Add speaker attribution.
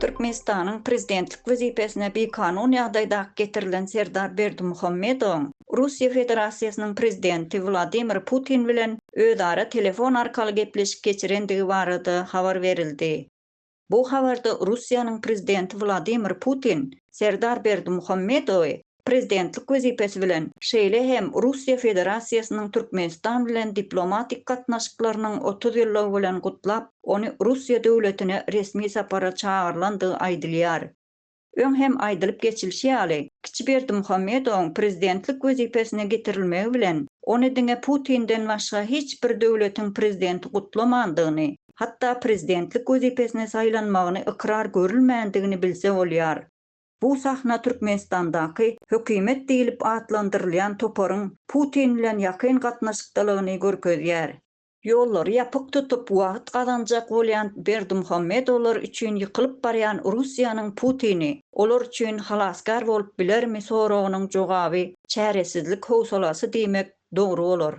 Speaker 1: Türkmenistanyň prezidentlik wezipesine bikanun ýagdaýda getirilen Serdar Berdimuhamedowyň Russiýa Federasiýasynyň prezidenti Wladimir Putin bilen özara telefon arkaly gepleşik geçirendigi barada habar berildi. Bu habarda Russiýanyň prezidenti Wladimir Putin Serdar Berdimuhamedowy prezidentlik wezipesi bilen, şeýle hem Russiýa Federasiýasynyň Türkmenistan bilen diplomatik gatnaşyklarynyň otuz ýyllygy bilen gutlap, ony Russiýa döwletine resmi sapara çagyrylandygy aýdylýar. Öň hem aýdylyp geçilişi ýaly, kiçi Berdimuhamedowyň prezidentlik wezipesine getirilmegi bilen, ony diňe Putinden başga hiç bir döwletiň prezidenti gutlamandygyny, hatda prezidentlik wezipesine saýlanmagyny ykrar görülmändigini bilse bolýar. Bu sahna Türkmenistandaky hökümet diýlip atlandyrylýan toparyň Putin bilen ýakyn gatnaşykdalygyny görkezýär. Ýollary ýapyk tutup, wagt gazanjak bolýan Berdimuhamedowlar üçin ýykylyp barýan Russiýanyň Putini olar üçin halasgär bolup bilermi soragynyň jogaby çäresizlik howsalasy diýmek dogry bolar.